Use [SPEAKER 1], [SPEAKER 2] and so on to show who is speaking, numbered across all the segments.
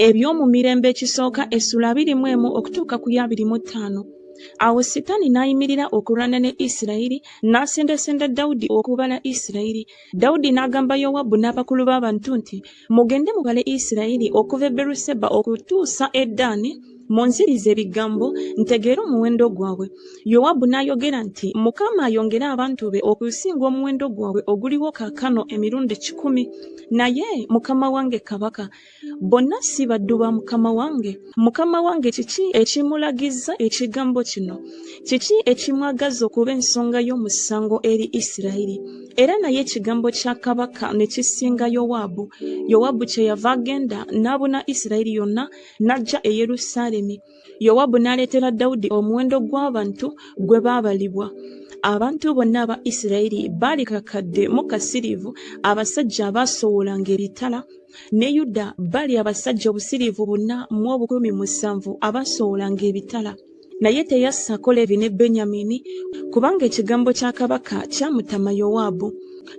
[SPEAKER 1] eby'omu mirembe ekisooka essula abiri mu emu okutuuka ku ya abiri mu ttaano awo sitaani n'ayimirira okulwana ne isirayiri n'asendasenda dawudi okubala isirayiri dawudi n'agamba yowabu n'abakulu b'abantu nti mugende mubale isirayiri okuva e beruseba okutuusa eddaani munziriza ebigambo ntegeere omuwendo gwabwe yowabu n'ayogera nti mukama ayongere abantu be okusinga omuwendo gwabwe oguliwo kaakano emirundi kikumi naye mukama wange kabaka bonna si baddu ba mukama wange mukama wange kiki ekimulagizza ekigambo kino kiki ekimwagaza okuba ensonga y'omusango eri isirayiri era naye ekigambo kya kabaka ne kisinga yowaabu yowaabu kye yava agenda n'abuna isirayiri yonna n'ajja e Yerusaalemi. Yowabu n'aleetera Dawudi omuwendo gw'abantu gwe baabalibwa. Abantu bonna aba Isirayiri baali kakadde mu kasiriivu, abasajja abaasowolanga ebitala. Ne Yuda baali abasajja obusiriivu buna mu obukumi musanvu abaasowolanga ebitala. Naye teyassa kola ebyo ne Benyamini, kubanga ekigambo kya kabaka kyamutama Yowaabu.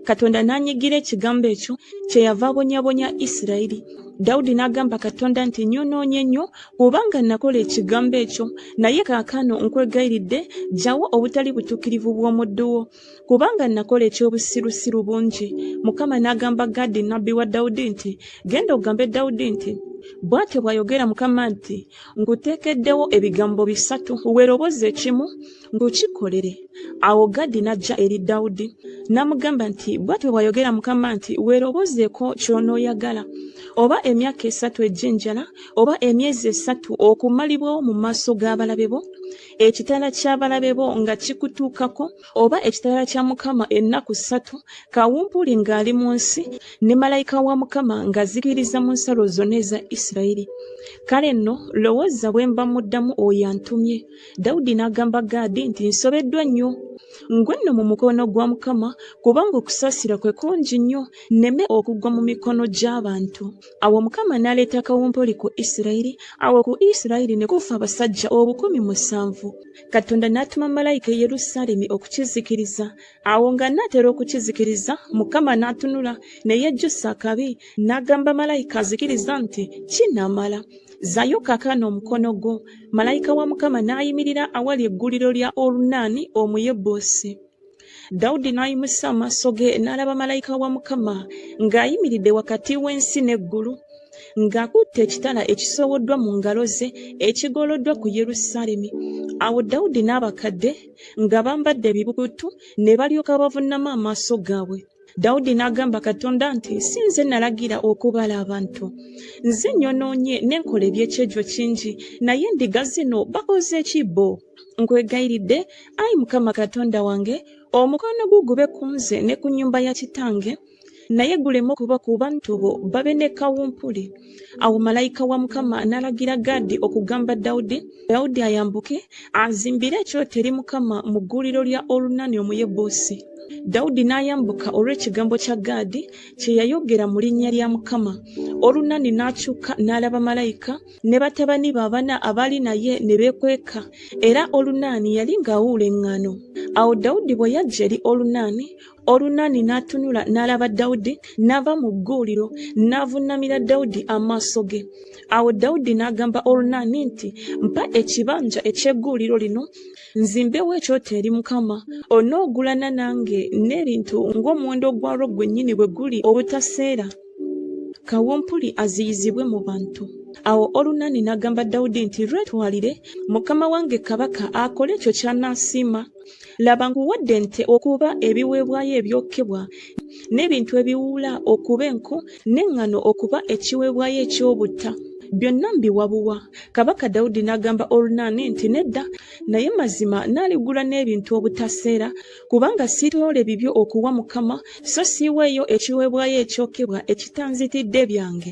[SPEAKER 1] Katonda n'anyigira ekigambo ekyo, kyeyava abonyabonya Isirayiri. Dawudi n'agamba Katonda nti, Nnyonoonye nnyo, kubanga nakola ekigambo ekyo. Naye kaakano nkwegayiridde, ggyawo obutali butuukirivu bw'omuddu wo. kubanga nakola eky'obusirusiru bungi mukama n'agamba gadi nabbi wa dawudi nti genda ogambe dawudi nti bw'atyo bw'ayogera mukama nti nguteekeddewo ebigambo bisatu weeroboza ekimu ng'okikolere awo gadi n'ajja eri dawudi n'amugamba nti bw'atyo bw'ayogera mukama nti weerobozeeko ky'onooyagala oba emyaka esatu egy'enjala oba emyezi esatu okumalibwawo mu maaso g'abalabe bo ekitala ky'abalabe bo nga kikutuukako oba ekitala kya mukama ennaku ssatu kawumpuli ng'ali mu nsi ne malayika wa mukama ng'azikiriza mu nsalo zonna eza isirayiri kale nno lowooza bwe mba muddamu oyo antumye dawudi n'agamba gaadi nti nsobeddwa nnyo ngwe nno mu mukono gwa mukama kubanga okusaasira kwe kungi nnyo nneme okugwa mu mikono gy'abantu Awo Mukama n'aleeta kawumpuli ku Isirayiri, awo ku Isirayiri ne kufa abasajja obukumi musanvu. Katonda n'atuma malayika e Yerusaalemi okukizikiriza. Awo ng'anaatera okukizikiriza, Mukama n'atunula, ne yejjusa akabi, n'agamba malayika azikiriza nti, Kinamala! Zayo kakano omukono gwo. Malayika wa Mukama n'ayimirira awali egguliro lya Olunaani Omuyebusi. dawudi n'ayimusa amaaso ge n'alaba malayika wa mukama ng'ayimiridde wakati w'ensi n'eggulu ng'akutte ekitala ekisowoddwa mu ngalo ze ekigoloddwa ku yerusaalemi awo dawudi n'abakadde nga bambadde ebibukutu ne balyoka bavunnama amaaso gaabwe dawudi n'agamba katonda nti si nze nalagira okubala abantu nze nyonoonye ne nkola ebyekyejo kingi naye ndiga zino bakoze ki bo nkwegayiridde ayi mukama katonda wange omukono gwo gube ku nze ne ku nnyumba ya kitange naye guleme okuba ku bantu bo babe ne kawumpuli awo malayika wa mukama n'alagira gaadi okugamba dawudi dawudi ayambuke azimbire ekyoto eri mukama mu gguuliro lya olunani omuyebuusi dawudi n'ayambuka olw'ekigambo kya gaadi kye yayogera mu linnya lya mukama olunani n'akyuka n'alaba malayika ne batabani be abana abaali naye ne beekweka era olunaani yali ng'awuula eŋŋano awo dawudi bwe yajja eri olunaani Olunaani n'atunula n'alaba Dawudi, n'ava mu gguuliro n'avunnamira Dawudi amaaso ge. Awo Dawudi n'agamba Olunaani nti, Mpa ekibanja eky'egguuliro lino nzimbewo ekyoto eri Mukama. Onoogulana nange n'ebintu ng'omuwendo gwalwo gwennyini bwe guli obutaseera, kawumpuli aziyizibwe mu bantu. Awo Olunaani n'agamba Dawudi nti, Lwetwalire mukama wange kabaka akole ekyo ky'anaasiima. Laba nkuwadde ente okuba ebiweebwayo ebyokebwa, n'ebintu ebiwuula okuba enku, n'eŋŋano okuba ekiweebwayo eky'obutta. Byonna mbiwa buwa. Kabaka Dawudi n'agamba Olunaani nti, Nedda, naye mazima nnaaligula n'ebintu obutaseera, kubanga siitoole bibyo okuwa Mukama, so siiweeyo ekiweebwayo ekyokebwa ekitanzitidde byange.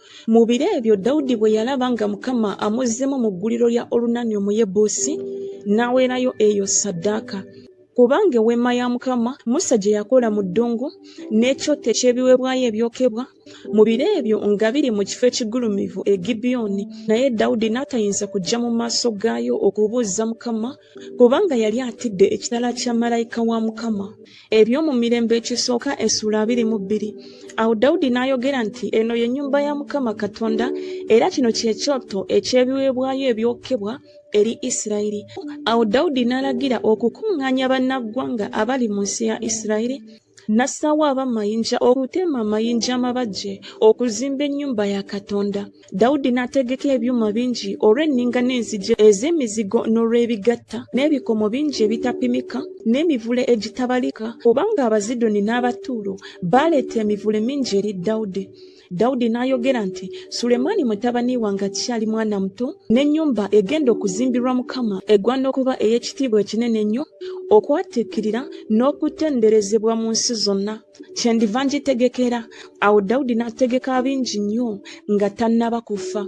[SPEAKER 1] Mu biro ebyo Dawudi bwe yalaba nga Mukama amuzzemu mu gguliro lya Olunani Omuyebuusi, n'aweerayo eyo ssaddaaka. Kubanga eweema ya Mukama Musa gye yakola mu ddungu, n'ekyoto eky'ebiweebwayo ebyokebwa, mu biro ebyo nga biri mu kifo ekigulumivu e Gibyoni, naye Dawudi n'atayinza kujja mu maaso gaayo okubuuzza Mukama, kubanga yali atidde ekitala kya malayika wa Mukama. Ebyomu Mirembe Ekisooka essuula abiri mu bbiri Awo Dawudi n'ayogera nti, Eno ye nnyumba ya Mukama Katonda, era kino kye kyoto eky'ebiweebwayo ebyokebwa eri Isirayiri. Awo Dawudi n'alagira okukuŋŋaanya bannaggwanga abali mu nsi ya Isirayiri, n'assaawo abamayinja okutema amayinja amabajje okuzimba ennyumba ya Katonda. Dawudi n'ategeka ebyuma bingi olw'enninga n'enzigi ez'emizigo n'olw'ebigatta n'ebikomo bingi ebitapimika n'emivule egitabalika, kubanga Abazidoni n'Abatuulo baaleeta emivule mingi eri Dawudi. Dawudi n'ayogera nti, Sulemaani mutabani wange akyali mwana muto, n'ennyumba egenda okuzimbirwa Mukama egwana okuba ey'ekitiibwa ekinene ennyo, okwatiikirira n'okutenderezebwa mu nsi zonna. kyendiva ngitegekera awo dawudi n'ategeka bingi nnyo nga tannaba kufa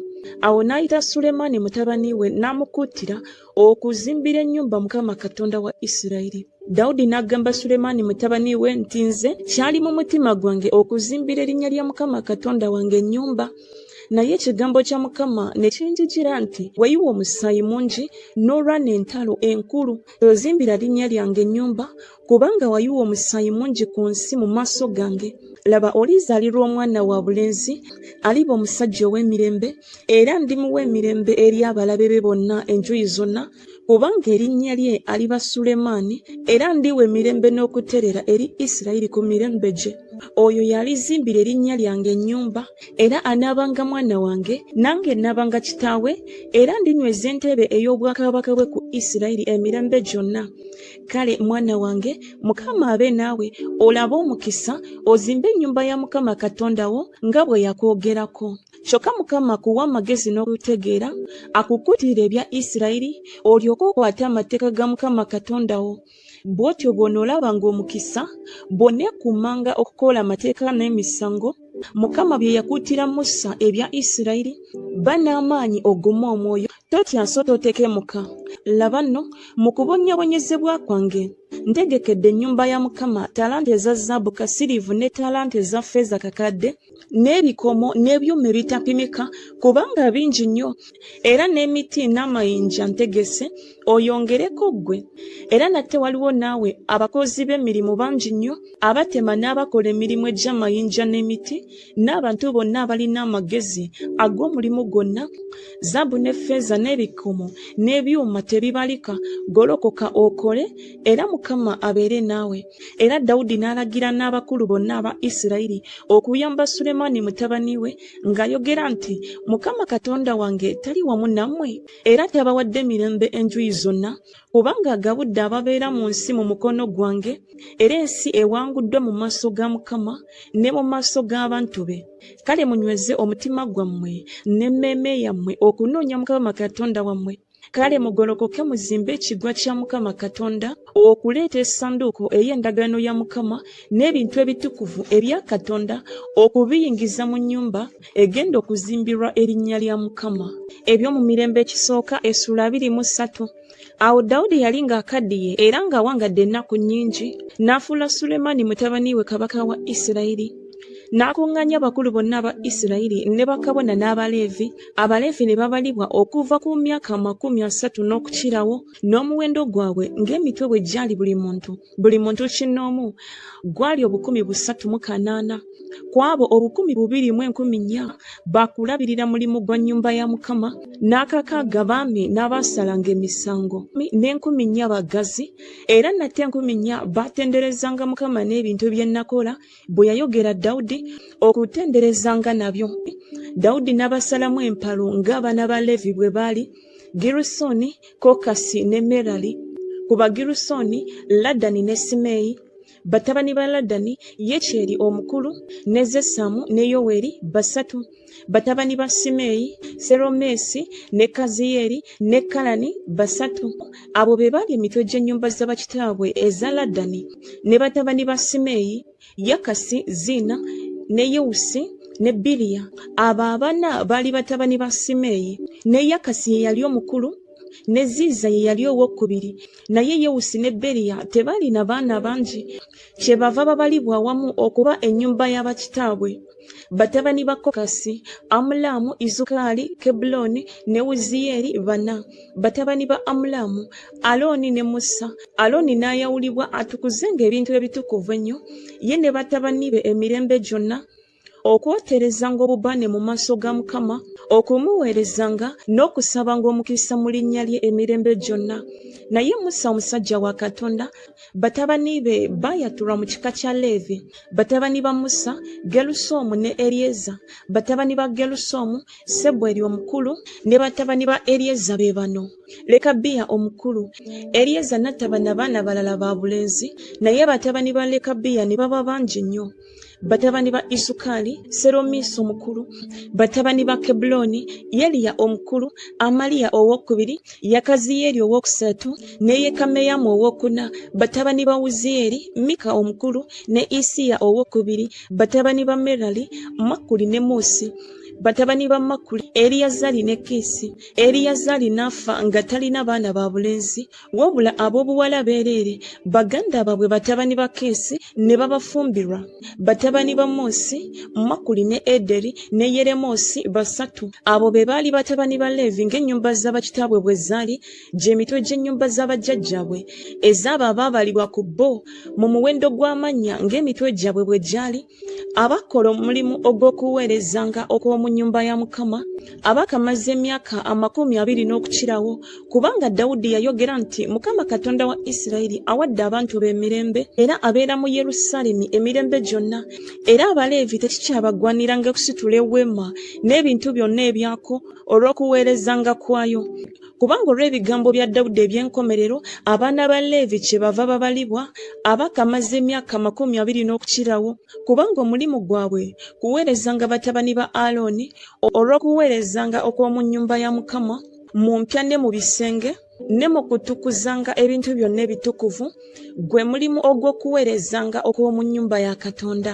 [SPEAKER 1] awo n'ayita sulemaani mutabani we n'amukuutira okuzimbira ennyumba mukama katonda wa isirayiri dawudi n'agamba sulemaani mutabani we nti nze kyali mu mutima gwange okuzimbira erinnya lya mukama katonda wange ennyumba naye ekigambo kya mukama ne kinjijira nti wayiwa omusaayi mungi n'olwana entalo enkulu ozimbira linnya lyange ennyumba kubanga wayiwa omusaayi mungi ku nsi mu maaso gange laba olizaalirwa omwana wa bulenzi aliba omusajja ow'emirembe era ndimuwa emirembe eri abalabe be bonna enjuyi zonna kubanga erinnya lye aliba sulemaani era ndiwa emirembe n'okuterera eri isirayiri ku mirembe gye oyo yalizimbira erinnya lyange ennyumba era anaabanga mwana wange nange naabanga kitaawe era ndinyweza entebe ey'obwakabaka bwe ku isirayiri emirembe gyonna kale mwana wange mukama abe naawe olabe omukisa ozimbe ennyumba ya mukama katonda wo nga bwe yakwogerako kyokka mukama akuwa amagezi n'okutegeera akukutire ebya isirayiri olyoke okwate amateeka ga mukama katonda wo bw'otyo bw'onoolaba ng'omukisa bw'oneekuumanga okukola amateeka n'emisango mukama bye yakuutira musa ebya isirayiri banaamaanyi ogume omwoyo Totya so totekemuka, laba nno, mu kubonnyabonyezebwa kwange, ntegekedde ennyumba ya Mukama talanta eza zzaabu kasiriivu ne talanta eza ffeeza kakadde, n'ebikomo n'ebyuma ebitapimika, kubanga bingi nnyo, era n'emiti n'amayinja ntegese, oyongereko ggwe. Era nate waliwo naawe abakozi b'emirimu bangi nnyo, abatema n'abakola emirimu egy'amayinja n'emiti, n'abantu bonna abalina amagezi ag'omulimu gwonna zaabu ne ffeeza n'ebikomo n'ebyuma tebibalika golokoka okole era mukama abeere naawe era dawudi n'alagira n'abakulu bonna aba isirayiri okuyamba sulemaani mutabani we ng'ayogera nti mukama katonda wange tali wamu nammwe era tabawadde mirembe enjuyi zonna kubanga agabudde ababeera mu nsi mu mukono gwange era ensi ewanguddwa mu maaso ga mukama ne mu maaso g'abantu be kale munyweze omutima gwammwe n'emmeeme yammwe okunoonya mukama katonda wammwe kale mugolokoke muzimbe ekigwa kya mukama katonda okuleeta esanduuko ey'endagaano ya mukama n'ebintu ebitukuvu ebya katonda okubiyingiza mu nnyumba egenda okuzimbirwa erinnya lya mukama ebyo mu mirembe ekisooka essuula abiri mu ssatu awo dawudi yali ng'akaddiye era ng'awangadde ennaku nnyingi n'afuula sulemaani mutabani we kabaka wa isirayiri n'akuŋŋaanya abakulu bonna aba isirayiri ne bakabona n'abaleevi abaleevi ne babalibwa okuva ku myaka amakumi asatu n'okukirawo n'omuwendo gwabwe ng'emitwe bwe gyali buli muntu buli muntu kinnoomu gwali obukumi busatu mu kanaana ku abo obukumi bubiri mu enkumi nnya bakulabirira mulimu gwa nnyumba ya mukama n'akakaaga baami n'abaasalanga emisango n'enkumi nnya bagazi era nate enkumi nnya baatenderezanga mukama n'ebintu bye nakola bwe yayogera dawudi okutenderezanga nabyo dawudi n'abasalamu empalo ng'abaana ba leevi bwe baali girusoni kokasi ne merali ku bagirusooni ladani ne simeeyi batabani ba ladani yekyeri omukulu ne zesamu ne yoweri basatu batabani ba simeeyi seromeesi ne kaziyeri ne kalani basatu abo be baali emitwe gy'ennyumba z'abakitaabwe eza ladani ne batabani ba simeeyi Yakasi, Zina, ne Yewusi ne Biliya. Abo abana baali batabani ba Simeeyi, ne Yakasi ye yali omukulu, ne Ziiza ye yali owokubiri. Naye Yewusi ne Beriya tebaalina baana bangi, kyebava babalibwa awamu okuba ennyumba ya bakitaabwe. batabani ba kokasi amulaamu izukaali kebulooni ne wuziyeeri bana batabani ba amulaamu alooni ne musa alooni n'ayawulibwa atukuze ng'ebintu ebitukuvu ennyo ye ne batabani be emirembe gyonna okwoterezanga obubaane mu maaso ga mukama okumuweerezanga n'okusabanga omukisa mu linnya lye emirembe gyonna naye musa omusajja wa katonda batabani be baayatulwa mu kika kya leevi batabani ba musa gerusoomu ne eryeza batabani ba gerusoomu sebweri omukulu ne batabani ba eryeza be bano lekabiya omukulu eryeza natabana baana balala ba bulenzi naye batabani ba lekabiya ne baba bangi nnyo batabani ba isukali seromiisi omukulu batabani ba kebuloni yeliya omukulu amaliya owokubiri yakaziyeeri owokusatu ne Yekameyamu owokuna, batabani ba Wuzieri, Mika omukulu, ne Isiya owokubiri, batabani ba Merali, Makuli ne Musi. Batabani ba Makuli, Eliyazari ne Kisi. Eliyazari n'afa nga talina baana ba bulenzi, wabula ab'obuwala beereere, baganda baabwe batabani ba Kisi ne babafumbirwa. Batabani ba Musi, Makuli ne Ederi ne Yeremosi basatu. Abo be baali batabani ba Leevi ng'ennyumba za bakitaabwe bwe zaali. gye mitwe gy'ennyumba za bajjajjaabwe ez'abo abaabalibwa ku bo mu muwendo gw'amannya ng'emitwe gyabwe bwe gyali, abakola omulimu ogw'okuweerezanga okw'omu nnyumba ya Mukama, abaakamaze emyaka amakumi abiri n'okukirawo, kubanga Dawudi yayogera nti, Mukama Katonda wa Isirayiri awadde abantu be emirembe, era abeera mu Yerusaalemi emirembe gyonna, era Abaleevi tekikyabagwaniranga kusitula eweema n'ebintu byonna ebyako olw'okuweerezanga kwayo. Kubanga olw'ebigambo bya Dawudi eby'enkomerero, abaana ba Leevi kyebava babalibwa abakamaze emyaka amakumi abiri n'okukirawo, kubanga omulimu gwabwe kuweerezanga batabani ba Alooni olw'okuweerezanga okw'omu nnyumba ya Mukama mu mpya ne mu bisenge ne mu kutukuzanga ebintu byonna ebitukuvu, gwe mulimu ogw'okuweerezanga okw'omu nnyumba ya Katonda.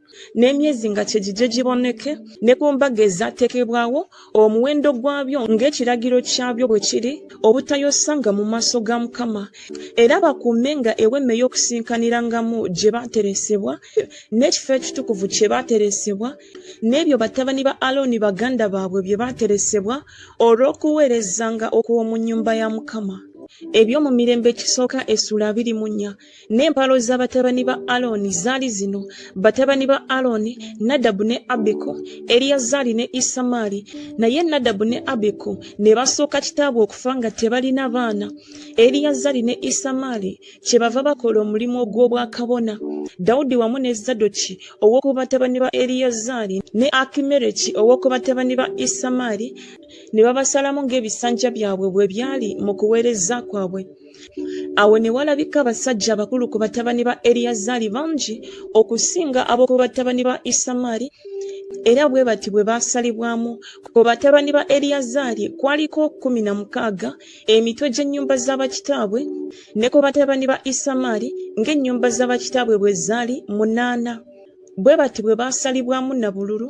[SPEAKER 1] n'emyezi nga kye gijje giboneke ne ku mbaga ezateekebwawo omuwendo gwabyo ng'ekiragiro kyabyo bwe kiri obutayosanga mu maaso ga Mukama era bakuume nga ewema ey'okusinkanirangamu gye baateresebwa n'ekifo ekitukuvu kye baateresebwa n'ebyo batabani ba Alooni baganda baabwe bye baateresebwa olw'okuweerezanga okw'omu nnyumba ya Mukama ebyo mu mirembe ekisooka essula abiri mu nnya n'empalo za batabani ba alooni zaali zino batabani ba alooni nadabu ne abiku eriyazaali ne isamaali naye nadabu ne abiku ne basooka kitaabwe okufa nga tebalina baana eriyazaali ne isamaali kye bava bakola omulimu ogw'obwakabona dawudi wamu ne zadoki ow'oku batabani ba eriyazaali ne akimereki ow'oku batabani ba isamaali ne babasalamu ng'ebisanja byabwe bwe byali mu kuweereza kwabwe awo ne walabika abasajja abakulu ku batabani ba eriyazaali bangi okusinga ab'oku batabani ba isamaali era bwe bati bwe baasalibwamu ku batabani ba eriyazaali kwaliko kkumi na mukaaga emitwe gy'ennyumba za bakitaabwe ne ku batabani ba isamaali ng'ennyumba za bakitaabwe bwe zaali munaana bwe bati bwe baasalibwamu na bululu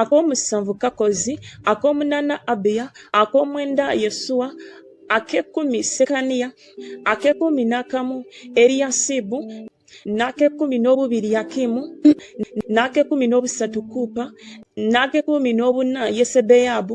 [SPEAKER 1] ak'omusanvu Kakkozi, ak'omunaana Abiya, ak'omwenda Yesuwa, ak'ekkumi Sekaniya, ak'ekkumi n'akamu Eriyasibu, n'ak'ekkumi n'obubiri Yakimu, n'ak'ekkumi n'obusatu Kuupa, n'ak'ekkumi n'obuna Yesebeyabu,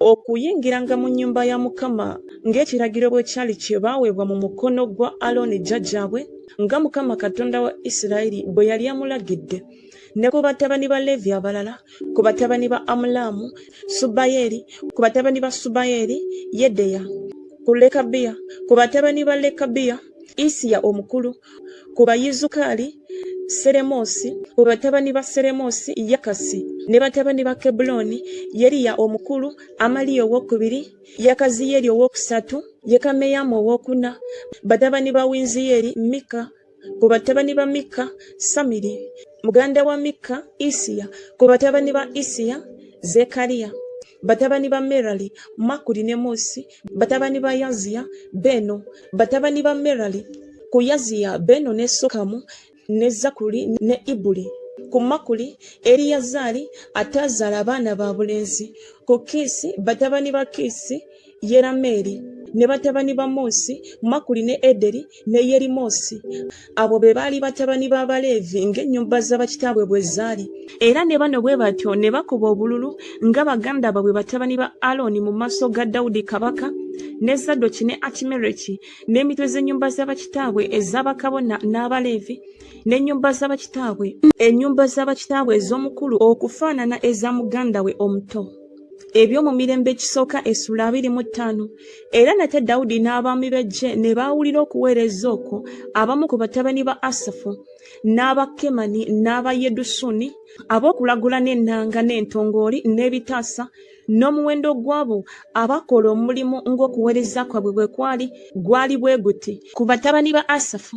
[SPEAKER 1] okuyingiranga mu nnyumba ya Mukama ng'ekiragiro bwe kyali kye baaweebwa mu mukono gwa Alooni jjajjaabwe, nga Mukama Katonda wa Isirayiri bwe yali amulagidde, ne ku batabani ba Leevi abalala, ku batabani ba Amulaamu, Subayeeri, ku batabani ba Subayeeri, Yedeya, ku Lekabiya, ku batabani ba Lekabiya, Isiya omukulu, ku Bayizukaali, Seremoosi, ku batabani ba Seremoosi, Yakasi, ne batabani ba Kebbulooni, Yeriya omukulu, Amaliya owokubiri, Yakaziyeri owokusatu, Yekameyamu owokuna, batabani ba Winziyeri, Mikka, ku batabani ba Mikka, Samiri, muganda wa Mikka, Isiya, ku batabani ba Isiya, Zekariya, batabani ba Merali, Makuli ne Musi, batabani ba yaziya beeno batabani ba merali ku yaziya beeno ne sokamu ne zakuli ne ibuli ku makuli eriyazaali ataazaala abaana ba bulenzi ku kiisi batabani ba kiisi yerameeri ne batabani ba moosi makuli ne ederi ne Yerimoosi. Abo be baali batabani b'Abaleevi ng'ennyumba za bakitaabwe bwe zaali. Era ne bano bwe batyo ne bakuba obululu nga baganda baabwe batabani ba Alooni mu maaso ga Dawudi kabaka, ne Zadoki ne Akimereki, n'emitwe z'ennyumba za bakitaabwe eza bakabona n'Abaleevi, n'ennyumba za bakitaabwe, ennyumba za bakitaabwe ez'omukulu okufaanana eza muganda we omuto. eby'omu mirembe ekisooka essula abiri mu ttaano era nate dawudi n'abaami b'eggye ne baawulira okuweereza okwo abamu ku batabani ba asafu n'aba kemani n'aba yedusuni ab'okulagula n'ennanga n'entongooli n'ebitaasa n'omuwendo gw'abo abakola omulimu ng'okuweereza kwabwe bwe kwali gwali bwe guti ku batabani ba asafu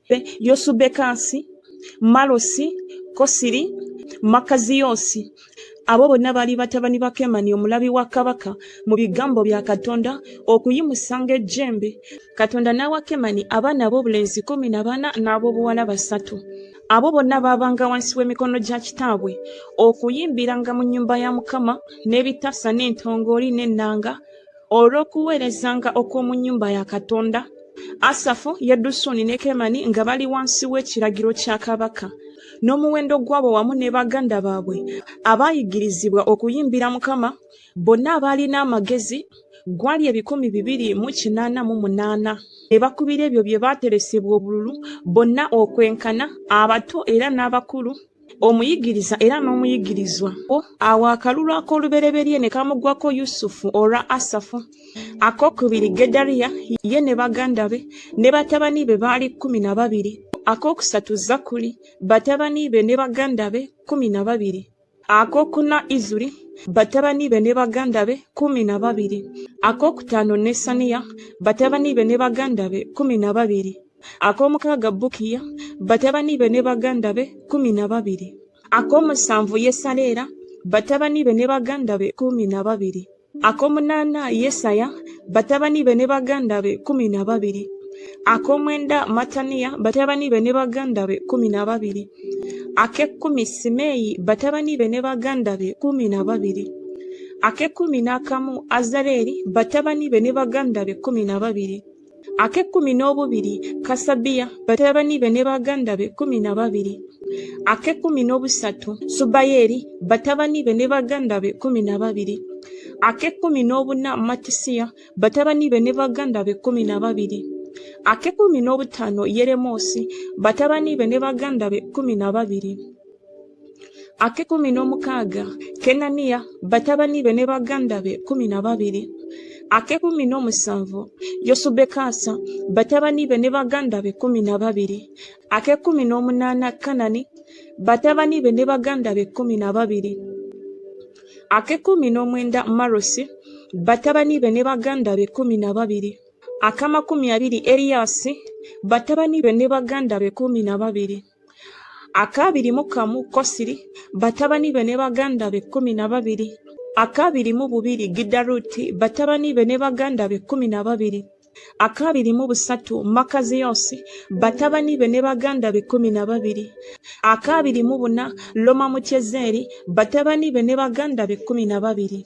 [SPEAKER 1] Be, Yosubekasi, Malosi, Kosiri, Makaziyosi. Abo bonna baali batabani ba Kemani omulabi wa kabaka mu bigambo bya Katonda okuyimusanga ejjembe. Katonda n'awa Kemani abaana ab'obulenzi kkumi na bana n'ab'obuwala basatu. Abo bonna baabanga wansi w'emikono gya kitaabwe okuyimbiranga mu nnyumba ya Mukama n'ebitasa n'entongooli n'ennanga olw'okuweerezanga okw'omu nnyumba ya Katonda, Asafu, Yedusuni ne Kemani nga bali wansi w'ekiragiro kya kabaka, n'omuwendo gw'abo wamu ne baganda baabwe abaayigirizibwa okuyimbira Mukama, bonna abaalina amagezi, gwali ebikumi bibiri mu kinaana mu munaana. Ne bakubira ebyo bye baateresebwa obululu, bonna okwenkana, abato era n'abakulu. Omuyigiriza era n'omuyigirizwa. Awo akalulu ak'olubereberye ne kamuggwako Yusufu olwa Asafu, ak'okubiri Gedaliya, ye ne baganda be, ne batabani be baali kkumi na babiri, ak'okusatu Zakkuli, batabani be ne baganda be kkumi na babiri, ak'okuna Izuri, batabani be ne baganda be kkumi na babiri, ak'okutaano Nesaniya, batabani be ne baganda be kkumi na babiri. ak'omukaaga Bukiya, batabani be ne baganda be kkumi na babiri, ak'omusanvu Yesaleera, batabani be ne baganda be kkumi na babiri, ak'omunaana Yesaya, batabani be ne baganda be kkumi na babiri, ak'omwenda Mattaniya, batabani be ne baganda be kkumi na babiri, ak'ekkumi Simeeyi, batabani be ne baganda be kkumi na babiri, ak'ekkumi n'akamu Azareeri, batabani be ne baganda be kkumi na babiri. ak'ekkumi n'obubiri kasabiya batabani be ne baganda be kkumi na babiri ak'ekkumi n'obusatu subayeri batabani be ne baganda be kkumi na babiri ak'ekkumi n'obuna matisiya batabani be ne baganda be kkumi na babiri ak'ekkumi n'obutaano yeremoosi batabani be ne baganda be kkumi na babiri ak'ekkumi n'omukaaga kenaniya batabani be ne baganda be kkumi na babiri ak'ekkumi n'omusanvu yosubekaasa batabani be ne baganda be kkumi na babiri ak'ekkumi n'omunaana kanani batabani be ne baganda be kkumi na babiri ak'ekkumi n'omwenda marosi batabani be ne baganda be kkumi na babiri ak'amakumi abiri eriyasi batabani be ne baganda be kkumi na babiri akabiri mu kamu Kosiri, batabani be ne baganda be kkumi na babiri akabiri mu bubiri Gidaruti, batabani be ne baganda be kkumi na babiri akabiri mu busatu Makaziyosi, batabani be ne baganda be kkumi na babiri akabiri mu buna Loma Mutyezeri, batabani be ne baganda be kkumi na babiri.